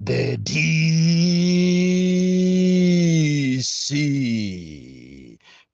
The DC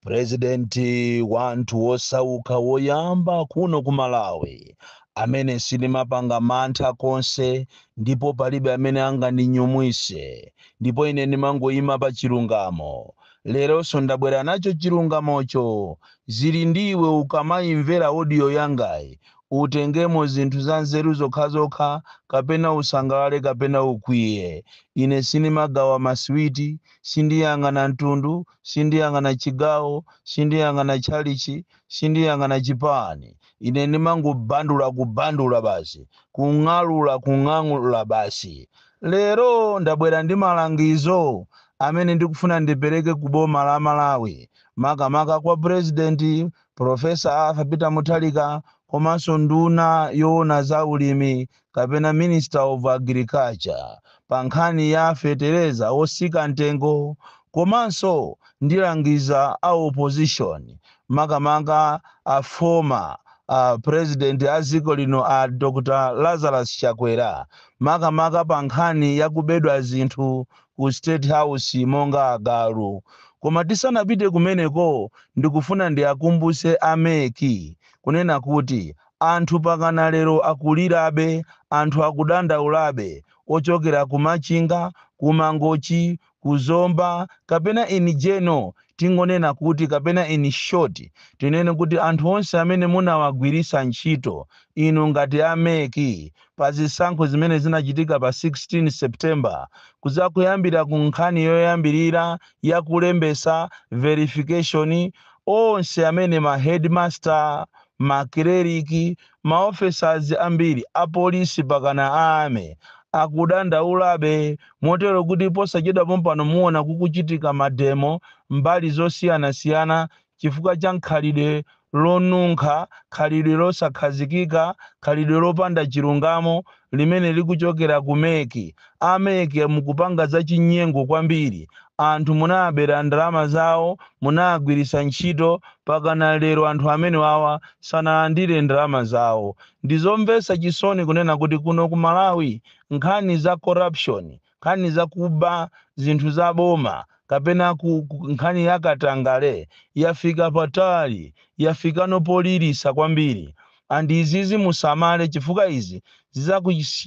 purezidenti wa anthu wosauka woyamba kuno ku malawi amene sindimapanga mantha konse ndipo palibe amene angandinyumwise ndipo ine ndimangoyima pa chilungamo leronso ndabwera nacho chilungamocho zili ndi iwe ukamayimvera odiyo yangayi Utengemo zinthu zanzeru zokhazokha, kapena usangalale kapena ukwiye. Ine sindimagawa masiwiti, sindiyang'ana mtundu, sindiyang'ana chigawo, sindiyang'ana tchalitchi, sindiyang'ana chipani. Ine ndimangobandula, kubandula basi, kung'alula, kung'alula basi. Lero ndabwera ndi malangizo amene ndikufuna ndipereke ku boma la Malawi, makamaka kwa Purezidenti Professor Arthur Peter Mutharika komanso nduna yoona za ulimi kapena Minister of Agriculture pa nkhani ya fetereza wotsika mtengo komanso ndilangiza a opposition makamaka a former president a dziko lino a Dr Lazarus Chakwera makamaka pa nkhani ya kubedwa zinthu ku state house monga agalu koma tisanapite kumeneko ndikufuna ndiakumbuse a mec kunena kuti anthu pakana lero akulirabe anthu akudandaulabe ochokera ku machinga ku mangochi ku zomba kapena in general tingonena kuti kapena in short tinene kuti anthu onse amene munawagwirisa ntchito inu ngati a mec pa zisankho zimene zinachitika pa 16 September kudzakuyambira ku nkhani yoyambirira ya kulembetsa, verification, onse amene ma headmaster, ma cleric, ma officers ambiri a police pakana a army akudandaulabe motero kuti posachedwa pompano muona kukuchitika mademo mbali zosiyanasiyana chifukwa cha khalidwe lonunkha, khalidwe losakhazikika, khalidwe lopanda chilungamo limene likuchokera ku mec. A mec mukupanga za chinyengo kwambiri. Anthu munawabera ndalama zawo, munawagwiritsa ntchito, pakana lero anthu amenewawa sanalandire ndalama zawo. Ndizomvetsa chisoni kunena kuti kuno ku Malawi nkhani za corruption nkhani za kuba zinthu za boma kapena ku, ku, nkhani ya katangale yafika patali, yafikano poliritsa kwambiri and izizi musamale chifukwa izi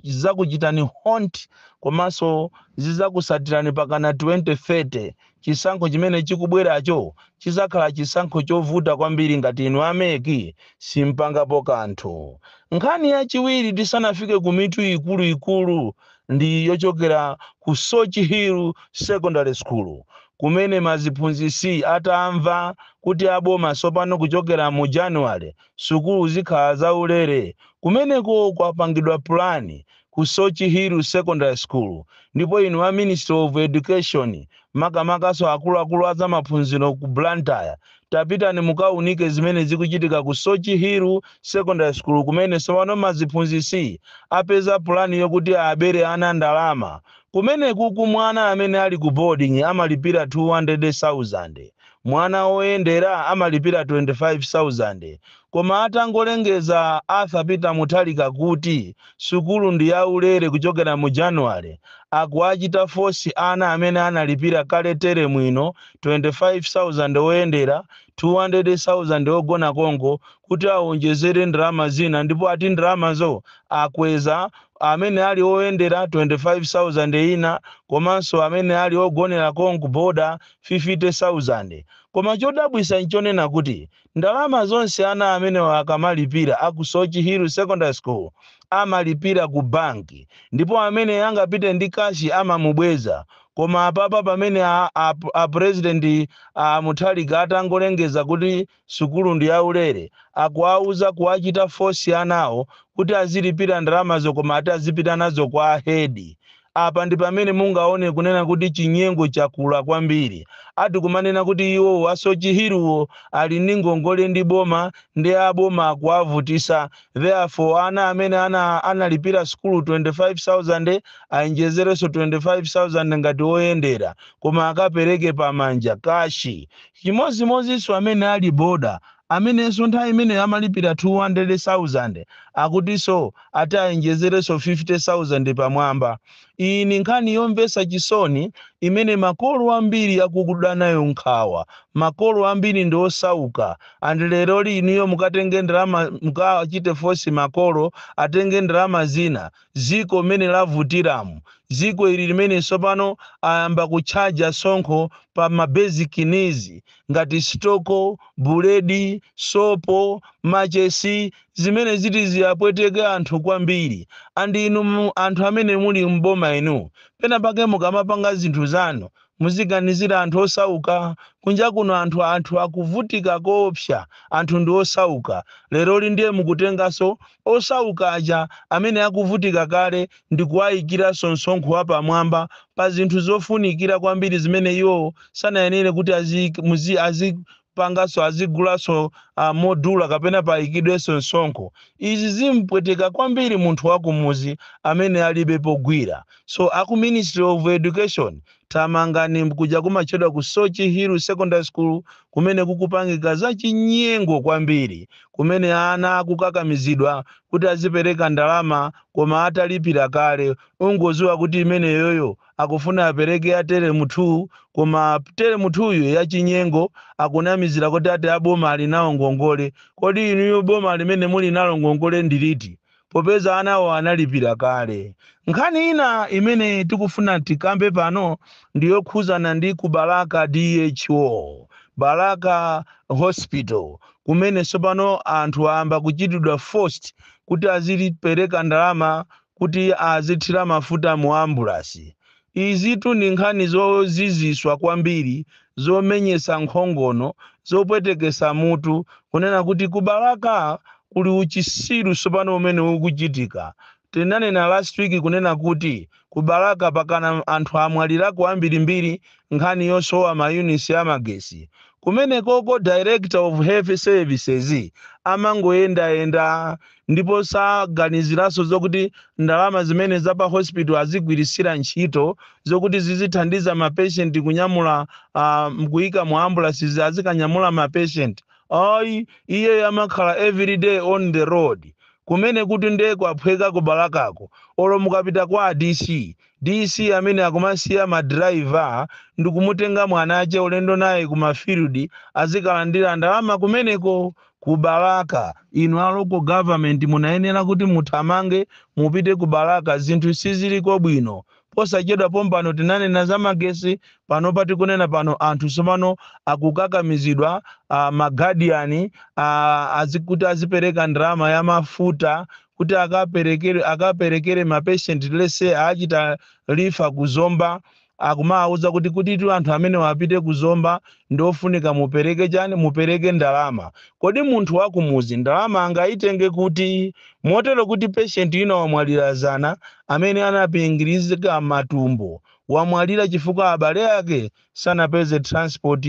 zizakuchitani haunt komanso zizakusatirani pakana 2030 Chisankho chimene chikubweracho chidzakhala chisankho chovuta kwambiri ngati inu a mec simpangapo kanthu. Nkhani yachiwiri tisanafike ku mitu ikulu ikulu ndi yochokera ku Sochi Hill Secondary School kumene ma ziphunzitsi atamva kuti a boma tsopano kuchokera mu January sukulu zikhala za ulere kumeneko kwapangidwa pulani ku Sochi Hill Secondary School ndipo inu a Ministry of Education makamakanso akuluakulu a zamaphunziro ku Blantyre tapitani mukaunike zimene zikuchitika ku Sochi Hill Secondary School kumene tsopano maziphunzitsi apeza pulani yokuti abere ana ndalama. Kumenekuku mwana amene ali ku boarding amalipira 200,000, mwana oyendera amalipira 25,000 Koma atangolengeza Arthur Peter Mutharika kuti sukulu ndi ya ulere kuchokera mu January, akuwachita force ana amene analipira kale teremu ino 25,000 oyendera, 200,000 ogona konko kuti awonjezere ndalama zina ndipo ati ndalamazo akweza amene ali oyendera 25,000 ina komanso amene ali ogonera konko boarder 50,000. Koma chodabwisa nchonena kuti Ndalama zonse ana amenewa akamalipira a ku Sochi Hill Secondary School amalipira ku bank ndipo amene angapite ndi cash amamubweza koma apapa pamene a, a, a president a Mutharika atangolengeza kuti sukulu ndi yaulere akuwauza kuwachita force anawo kuti azilipira ndalamazo koma ati azipita nazo kwa a head Apa ndi pamene mungaone kunena kuti chinyengo chakula kwambiri. Ati kumanena kuti iwowo a Sochi Hill-wo ali ndi ngongole ndi boma nde a boma akuwavutisa therefore ana amene analipira sukulu 25,000 ayenjezerenso 25,000 ngati oyendera koma akapereke pamanja, kashi. Chimodzimodzinso amene ali boarder amenenso nthawi imeneyo amalipira 200,000 akutinso ati ayenjezerenso 50,000 pamwamba. Iyi ni nkhani yomvetsa chisoni imene makolo ambiri akuda nayo nkhawa. Makolo ambiri ndi osauka and leroli inuyo mukatenge ndalama mukawachite force makolo atenge ndalama zina dziko mmene lavutiramu, dziko ili limene tsopano ayamba kutchaja sonkho pa ma basic needs ngati sitoko, buledi, sopo, machesi, zimene ziti ziapweteke anthu kwambiri and inu anthu amene muli m'boma inu penapake mukamapanga zinthu zanu Muziganizire anthu osauka. Kunja kuno anthu anthu akuvutika koopsa. Anthu ndi osauka. Leroli ndiye mukutenganso osauka aja amene akuvutika kale ndi kuwaikiranso msonkho wapamwamba pa zinthu zofunikira kwambiri zimene iwowo sanayenere kuti aziik, muzi, azi, panganso azigulanso modula kapena payikidwenso msonkho. Izi zimupweteka kwambiri munthu wakumuzi amene alibe pogwira. So aku ministry of education thamangani kuja kumatchedwa ku Soche Hill Secondary School kumene kukupangika za chinyengo kwambiri kumene ana akukakamizidwa kuti azipereka ndalama koma atalipira kale. Ungoziwa kuti imeneyoyo akufuna apereke ya telemu 2 koma telemu 2 yo yachinyengo akunamizira kuti ati aboma ali nawo ngongole kodi inuyo boma limene muli nalo ngongole ndiliti popeza anawo analipira kale nkhani ina imene tikufuna tikambe pano ndiyokhuzana ndi ku balaka dho balaka hospital kumene tsopano anthu ayamba kuchitidwa forced kuti azipereka ndalama kuti azithira mafuta mu ambulasi. Izitu ndi nkhani zoziziswa kwambiri, zomenyesa nkhongono, zopwetekesa mutu, kunena kuti ku Balaka kuli uchisiru tsopano umene ukuchitika. Tinanena last week kunena kuti ku Balaka pakana anthu amwalirako ambirimbiri nkhani yosowa ma units a magetsi kumenekoko director of health services amangoyendayenda ndipo saganiziranso zokuti ndalama zimene za pa hospital azigwiritsira ntchito zokuti zizithandiza ma patient kunyamula uh, kuyika mu ambulances azikanyamula ma patient ayi iyeyo amakhala everyday on the road kumene kuti nde kwaphweka ku Balakako olo mukapita kwa a DC DC amene akumasiya ma driver ndikumutenga mwana wake ulendo naye ku ma field azikalandira ndalama kumeneko ku Balaka. Inu a local government munayenera kuti muthamange mupite ku Balaka zinthu siziliko bwino. Posachedwa pompano tinanena za magesi panopa tikunena pano anthu tsopano akukakamizidwa uh, ma guardian uh, azi kuti azipereka ndalama ya mafuta kuti akaperekere akaperekere ma patient let's say achita refer ku Zomba akumawauza kuti kutitu anthu amene wapite ku Zomba ndi ofunika mupereke chani mupereke ndalama kodi munthu wakumuzi ndalama angayitenge kuti motero kuti patient ina wamwalira zana amene anapingirizika matumbo wamwalira chifukwa abale ake sanapeze transport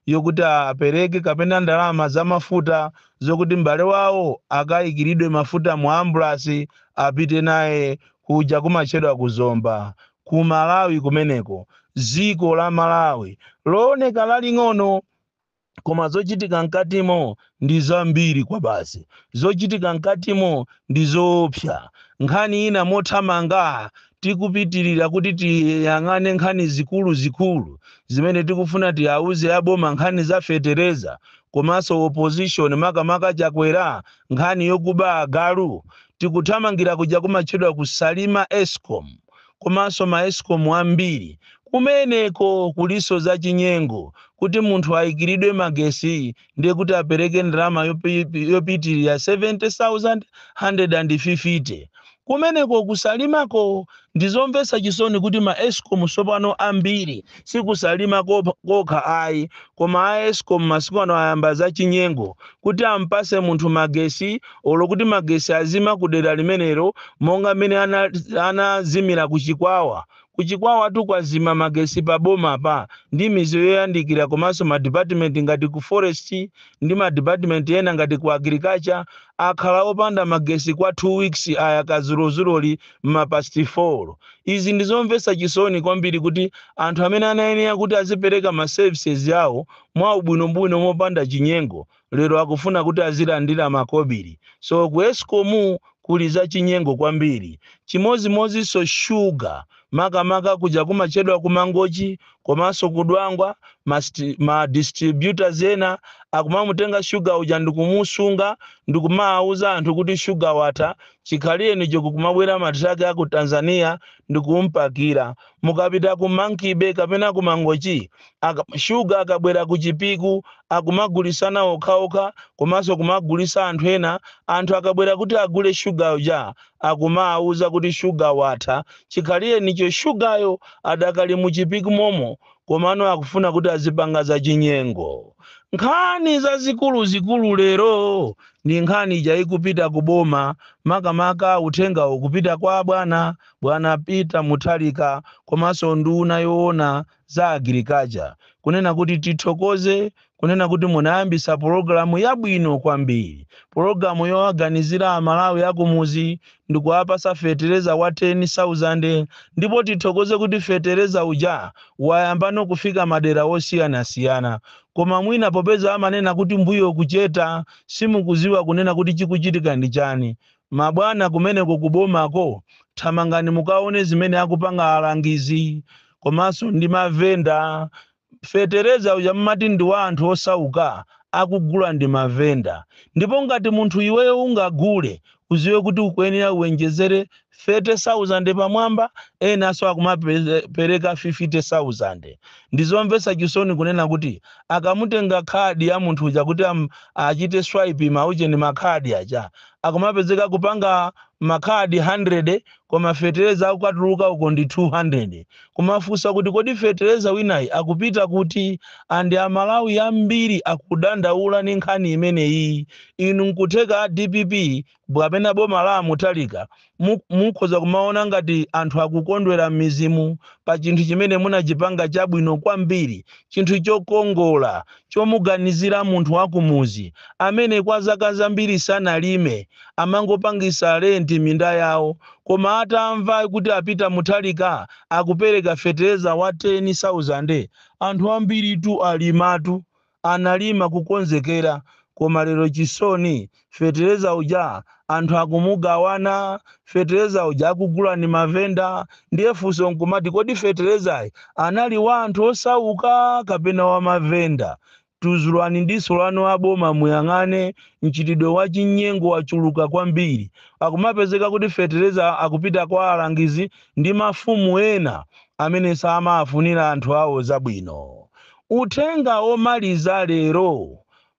yokuti apereke kapena ndalama za mafuta zokuti m'bale wawo akayikiridwe mafuta mu ambulance apite naye kuja kumatchedwa ku Zomba ku Malawi kumeneko dziko la Malawi looneka laling'ono Koma zochitika mkatimo ndi zambiri kwabasi. Zochitika mkatimo ndi zoopsa. Nkhani ina mothamanga tikupitirira kuti tiyang'ane nkhani zikulu zikulu zimene tikufuna tiauze a boma nkhani za fetereza komanso opposition makamaka Chakwera nkhani yokuba agalu tikuthamangira kuja kumatchedwa ku Salima Escom. komanso ma escom ambiri kumeneko kulinso za chinyengo kuti munthu aikilidwe magesi ndiye kuti apereke ndalama yopitilira 70150 kumeneko ku Salimako ndizomvetsa chisoni kuti ma escom tsopano ambiri si ku Salima kokha ayi koma a escom masiku ano ayamba za chinyengo kuti ampase munthu magesi olo kuti magesi azima ku dera limenelo monga mmene anazimira ku chikwawa ku chikwawatu kwazima magesi pa bomapa ndi mizi yoyandikira komanso madipatimenti ngati ku forest ndi madipatimenti ena ngati ku agriculture akhala opanda magesi kwa 2 weeks ayaka zulozuloli m'mapasti 4 izi ndi zomvetsa chisoni kwambiri kuti anthu amene anayenera kuti azipereka ma services awo mwa ubwinobwino mopanda chinyengo lero akufuna kuti azilandira makobiri so ku escom kuli za chinyengo kwambiri chimozimozinso sugar makamaka kuja kumachedwa ku mangochi komanso ku dwangwa ma distributors ena akumamutenga sugar uja ndikumusunga ndikumawuza anthu kuti sugar watha chikhalirenicho kukumabwera matraki aku tanzania ndikumpakira Mukapita ku Monkey-Bay kapena ku Mangochi, Shuga akabwera ku Chipiku, akumagulisana okhaokha komanso kumagulisa anthu ena, anthu akabwera kuti agule Shuga uja akumawuza kuti Shuga watha, chikhalirenicho Shugayo adakali mu Chipiku momo komano akufuna kuti azipanga za chinyengo. Nkhani zazikulu zikulu lero ndi nkhani ija ikupita ku Boma, makamaka uthengawo ukupita kwa abwana Bwana Peter Mutharika komanso nduna yoona za agriculture kunena kuti tithokoze kunena kuti munayambisa pologalamu yabwino kwambiri, pologalamu yowaganizira amalawi akumuzi ndikuwapasa fetereza wa 10,000 ndipo tithokoze kuti fetereza uja wayambano kufika madera wosiyanasiyana koma mwina popeza amanena kuti mbuyo kucheta simukuziwa kunena kuti chikuchitika ndi chani Mabwana kumeneko ku bomako thamangani mukaone zimene akupanga alangizi komanso ndi mavenda. Fetereza uja mumati ndi wa anthu osauka akugula ndi mavenda ndipo ngati munthu iweyo ungagule uziwe kuti ukuyenera uwenjezere 30,000 pamwamba enanso akumapereka 50,000. Ndizomvetsa chisoni kunena kuti akamatenga khadi ya munthu uja kuti achite swipe ma ujeni makhadi aja, akumapezeka akupanga ma card 100 koma fetereza akukatuluka uko ndi 200 kumafunsa kuti kodi fetereza winayi akupita kuti and amalawi ambiri akudandaula ni nkhani imeneyi inu nkutheka a dpp mwapena boma la a Mutharika Mukhoza kumaona ngati anthu akukondwera m'mizimu pa chinthu chimene munachipanga chabwino kwambiri, chinthu chokongola chomuganizira munthu wa kumudzi amene kwa zaka zambiri sanalime, amangopangitsa lenti minda yawo, koma atamva kuti a Peter Mutharika akupereka fetereza wa 10,000, anthu ambiritu alimatu. analima kukonzekera koma lero chisoni fetereza uja anthu akumugawana fetereza uja akugula ndi mavenda ndiye funso nkumati kodi feterezayi anali wa anthu osauka kapena wa mavenda tuzulani diso lanu aboma muyang'ane mchitidwe wa chinyengo wachuluka kwambiri akumapezeka kuti fetereza akupita kwa alangizi ndi mafumu ena amene samafunira anthu awo zabwino Uthenga womaliza lero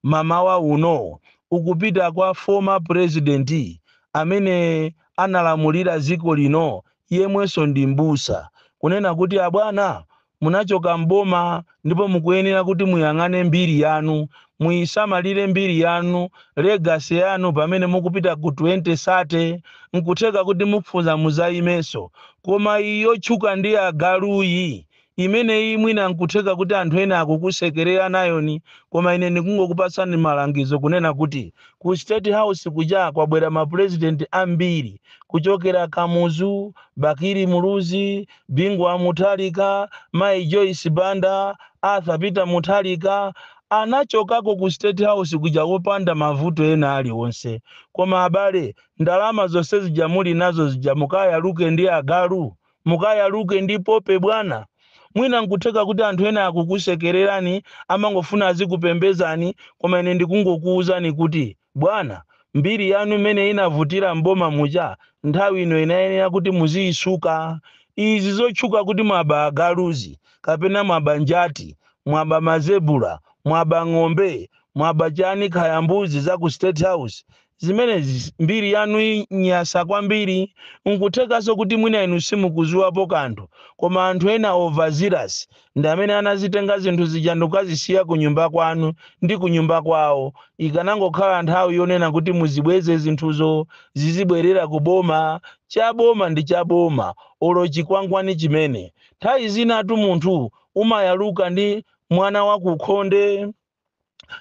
mamawa uno ukupita kwa former president amene analamulira dziko lino yemwenso ndi m'busa kunena kuti abwana munachoka m'boma ndipo mukuyenera kuti muyang'ane mbiri yanu, muyisamalire mbiri yanu, legacy yanu pamene mukupita ku 2030 nkutheka kuti mukufuna muzayimenso koma iyi yotchuka ndi agaluyi Imeneyi mwina nkutheka kuti anthu ena akukusekerera nayoni koma ine ndikungokupatsani malangizo kunena kuti ku state house kuja kwabwera ma president ambiri kuchokera Kamuzu, Bakili Muluzi, Bingu Wa Mutharika, Mayi Joyce Banda, Arthur Peter Mutharika anachokako ku state house kuja opanda mavuto ena alionse koma abale ndalama zonse zija muli nazo zija mukayaluke ndi agalu? Mukayaluke ndi Pope bwana. Mwina nkutheka kuti anthu ena akukusekererani, amangofuna azikupembezani, koma ine ndikungokuuzani kuti, bwana, mbiri yanu imene inavutira m'boma muja, nthawi ino inayenera kuti muziyisuka. Izi zotchuka kuti mwaba agaluzi, kapena mwaba njati, mwaba mazebura, mwaba ng'ombe, mwaba chani khaya mbuzi za ku State House, Zimenezi mbiri yanu inyasa kwambiri, nkuthekanso kuti mwina inu simukuziwapo kanthu koma anthu ena overzealous ndi amene anazitenga zinthu zija ndikukazisiya ku nyumba kwanu ndi ku nyumba kwawo, ikanangokhala nthawi yonena kuti muzibweze zinthuzo zizibwerera ku boma, cha boma ndi cha boma olo chikwangwani chimene. Nthawi zinatu munthu umayaluka ndi mwana wa kukhonde.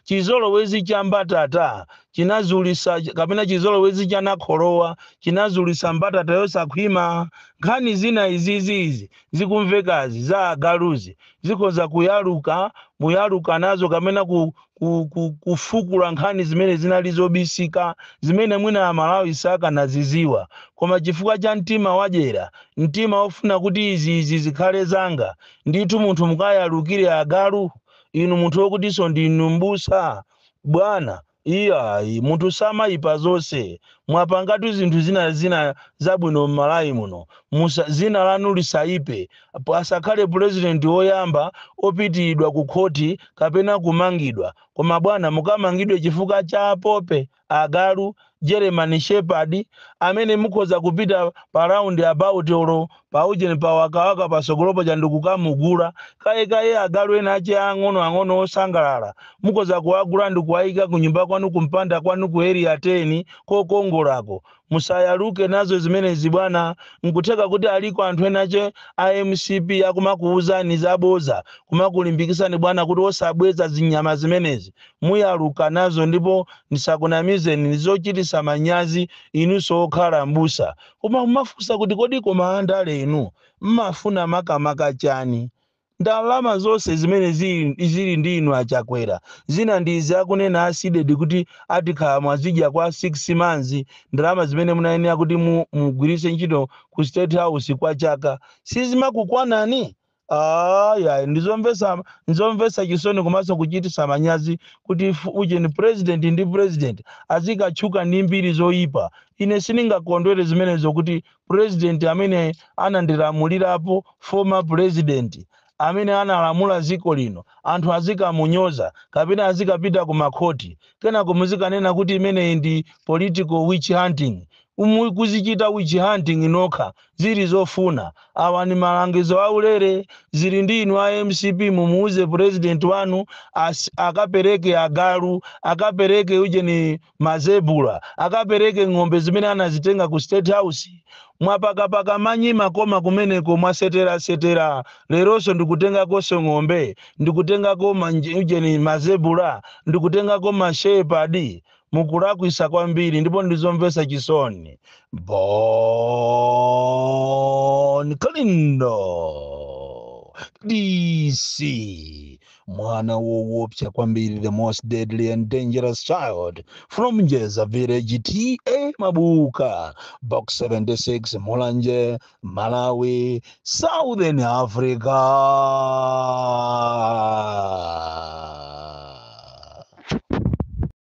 chizolowezi cha mbatata chinazulisa kapena chizolowezi cha nakholowa chinazulisa mbatata yosakhwima nkhani zina izizi izi zikumvekazi za agaluzi zikhoza kuyaluka muyaluka nazo kapena ku, ku, ku, kufukula nkhani zimene zinali zobisika zimene mwina amalawi sakanaziziwa koma chifukwa cha mtima wadyera mtima ofuna kuti izi izi zikhale zanga ndithu munthu mukayalukire agalu Inu munthu wokutinso ndinu m'busa, bwana, iyayi, munthu samayipa zonse. Mwapangatu zinthu zina zina zabwino m'Malawi muno. Musa, dzina lanu lisayipe. Pasakhale president woyamba opitiridwa ku khoti kapena kumangidwa. Koma bwana mukamangidwe chifukwa cha apopi agalu, German shepherd, amene mukhoza kupita pa round about olo pa ujeni pa wakawaka patsogolopo ndikukamugula kaye kaye agalu ena ache ang'onoang'ono osangalala mukhoza kuwagula ndikuwaika kunyumba kwanu kumpanda kwanu ku area 10 kokongolako Musayaluke nazo zimenezi bwana, nkutheka kuti aliko anthu enache a mcp akumakuuzani zaboza kumakulimbikisani bwana kuti osabweza zinyama zimenezi. Muyaluka nazo ndipo ndisakunamizeni ndizochitisa manyazi inunso okhala m'busa koma mumafunsa kuti kodi koma andale inu mmafuna makamaka chani? Ndalama zonse zimene zili zili ndi inu a Chakwera zina ndi izi akunena a Sidik kuti atikhala mwazidya kwa 6 months ndalama zimene munayenera kuti mu mugwiritse ntchito ku state house kwa chaka sizimakukwanani Aaa yayi ndizomvetsa nzomvetsa chisoni komanso kuchititsa manyazi kuti fu ujeni president ndi president azikatchuka ndi mbiri zoyipa ine sindingakondwere zimenezo kuti president amene anandilamulirapo former president amene analamula ziko lino anthu azikamunyoza kapena azikapita ku makhoti kenako muzikanena kuti imeneyi ndi political witch hunting Mukuzichita witch hunting nokha zili zofuna awa ni malangizo aulere zili ndi inu a mcp mumuuze president wanu as, akapereke agalu akapereke ujeni Ma zebura akapereke ng'ombe zimene anazitenga ku state house. Mwapakapaka manyi makoma kumeneko mwasetera setera leronso ndikutengako ng'ombe ndikutengako ma ujeni ma zebura ndikutengako ma shepherd mukulakwisa kwambiri ndipo ndizomvesa chisoni. Bon kalindo dc. mwana wowopsa kwambiri the most deadly and dangerous child from njeza village ta mabuka box 76 mulanje malawi southern africa